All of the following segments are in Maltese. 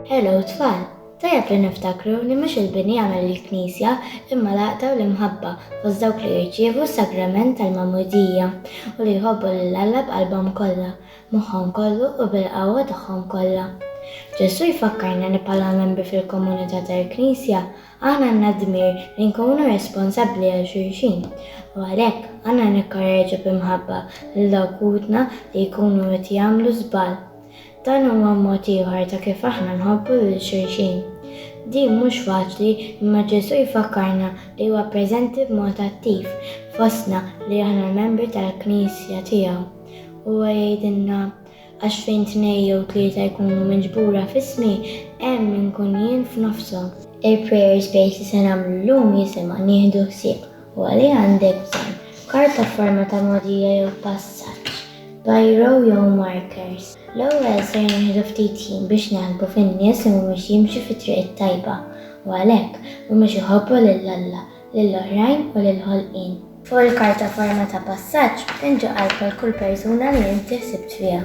Hello tfal! Tajjeb li niftakru li mhux il-bini jagħmel il-Knisja imma l-għaqda u l-imħabba fost dawk li jirċievu s-sagrament tal-magħmudija u li jħobbu lil Alla b'qalbhom kollha, moħħhom kollu u bil-qawwa tagħhom kollha. Ġesù jfakkarna li bħala membri fil-komunità tal-Knisja Aħna għandna d-dmir li nkunu responsabbli għal xulxin, u għalhekk għandna nikkoreġu bi mħabba lil dawk ħutna li jkunu qed jagħmlu żball. Dan huwa mod ieħor ta' kif aħna nħobbu lil xulxin. Din mhux faċli imma Ġesù jfakkarna li huwa preżenti b'mod attiv fostna li aħna l-membri tal-Knisja tiegħu. Huwa jgħidilna, Għax fejn tnej jew tlieta jkunu miġbura f'ismi, hemm inkun jien f'nofshom. Il-prayer space li se nagħmlu llum jisimha Nieħdu Ħsieb u għaliha għandek bżonn, Karta f'forma ta' mogħdija jew passaġġ, Biro jew markers. L-ewwel ser nieħdu ftit ħin biex naħsbu fin-nies li mhumiex jimxu fit-triq it-tajba, u għalhekk, mhumiex iħobbu lil Alla. lil oħrajn u lill-ħolqien. Fuq il-karta forma ta' passaġġ pinġi qalb għal kull persuna li inti ħsibt fiha.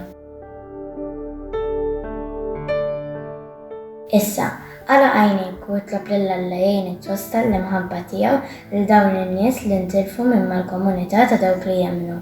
Issa, għala għajnejk u itlob lil Alla jgħinek twassal l-imħabba tiegħu lil dawn in-nies li ntilfu minn mal-komunità ta' dawk li jemmnu.